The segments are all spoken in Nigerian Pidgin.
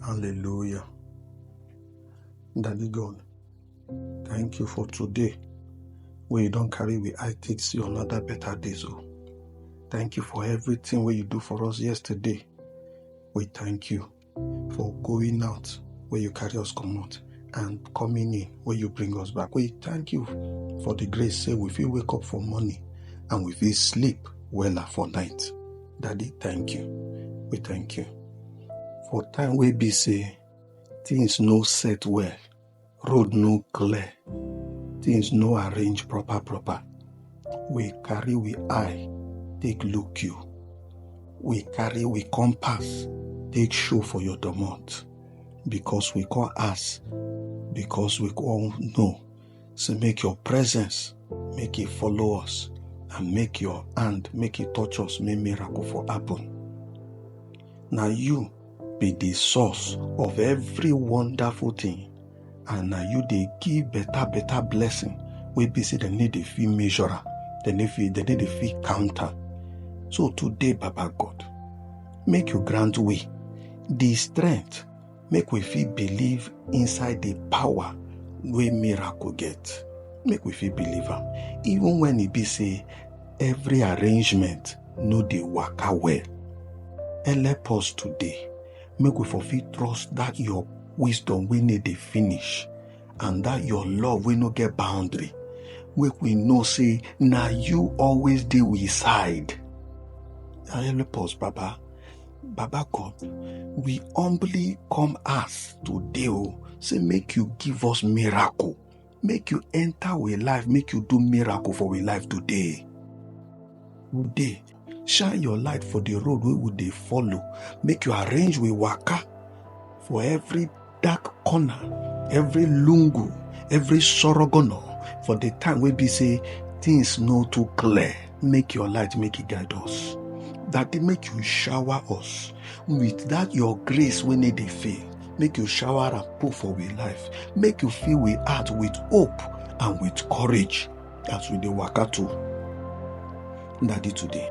Hallelujah. Daddy God, thank you for today. Where you don't carry we I take see another better day. So oh. thank you for everything where you do for us yesterday. We thank you for going out where you carry us come out and coming in where you bring us back. We thank you for the grace. Say we feel wake up for morning and we feel sleep well for night. Daddy, thank you. We thank you. For time we be say things no set well, road no clear, things no arrange proper proper. We carry we eye, take look you. We carry we compass, take show for your domot. Because we call us, because we call no. Say make your presence make it follow us and make your hand make it touch us make miracle for happen. Now you be the source of every wonderful thing and now you they give better better blessing We be say dem need a fee measurer dem need fee dem need a fee counter so today baba god make you grant we the strength make we fit believe inside the power wey miracle get make we fit believe am even when e be say every arrangement no dey waka well help us today make we for fit trust that your wisdom wey no dey finish and that your love wey no get boundary make we know say na you always dey we side help us baba Baba God, we humbly come ask today, oh, say make you give us miracle. Make you enter our life, make you do miracle for our life today. Today, shine your light for the road we would they follow. Make you arrange we waka for every dark corner every lungu every sorogono for the time wey be say things no too clear make your light make it guide us that they make you shower us with that your grace when they dey fail make you shower and pour for we life make you fill we heart with hope and with courage as we dey waka to daddy today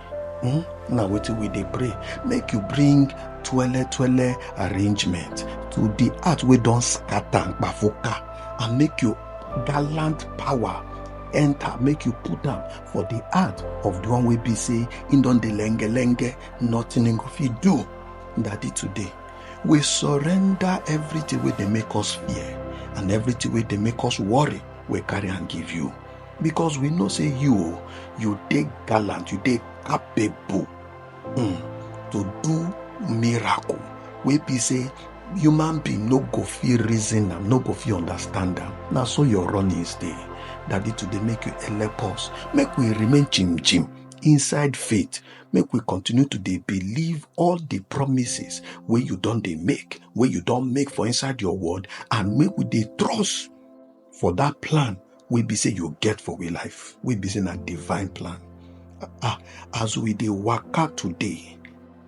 Hmm? na wetin we dey pray make you bring twele twele arrangement to the heart wey don scatter and kpafuka and make you gallant power enter make you put am for the heart of the one wey be say him don dey lenge lenge nothing him go fit do daddy today we surrender everything wey dey make us fear and everything wey dey make us worry we carry am give you because we know say you you dey gallant you dey capable um, to do miracle wey be say human being no go fit reason am no go fit understand am na so your runnings dey daddy to dey make you help us make we remain chim chim inside faith make we continue to dey believe all the promises wey you don dey make wey you don make for inside your word and make we dey trust for that plan wey be say you get for we life wey be say na divine plan ah, ah as we dey waka today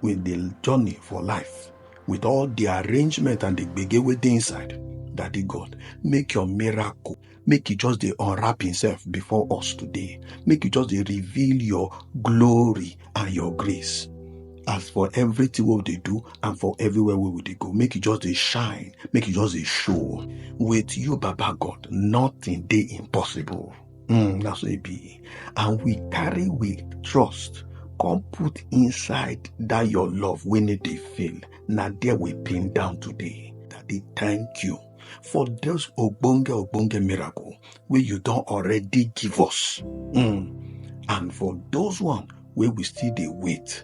with the journey for life with all the arrangement and the gbege wey dey inside daddy god make your miracle make you just dey unwrap himself before us today make you just dey reveal your glory and your grace as for everything what they do and for everywhere where they go make it just they shine make it just they show with you baba god nothing they impossible mm, that's what it be and we carry with trust come put inside that your love when it they fail now there we pin down today that they thank you for this ogbonge ogbonge miracle wey you don already give us mm. and for those one wey we still dey wait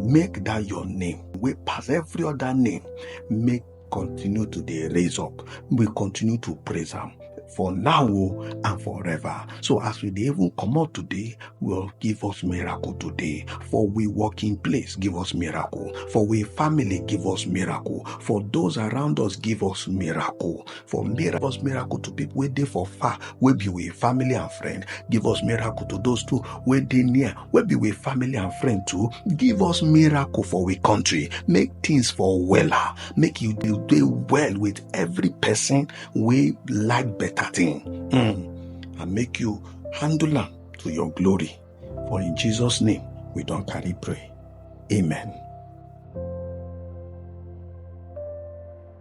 make that your name wey pass every other name make continue to dey raise up we continue to praise am for now o and forever so as we dey even comot today well give us miracle today for we working place give us miracle for we family give us miracle for those around us give us miracle for miracle us miracle to people wey dey for far wey be we family and friend give us miracle to those too wey dey near wey be we family and friend too give us miracle for we country make things for wella make you dey dey well with every person wey like better thing mm. and make you handle am to your glory for in jesus name we don carry pray amen.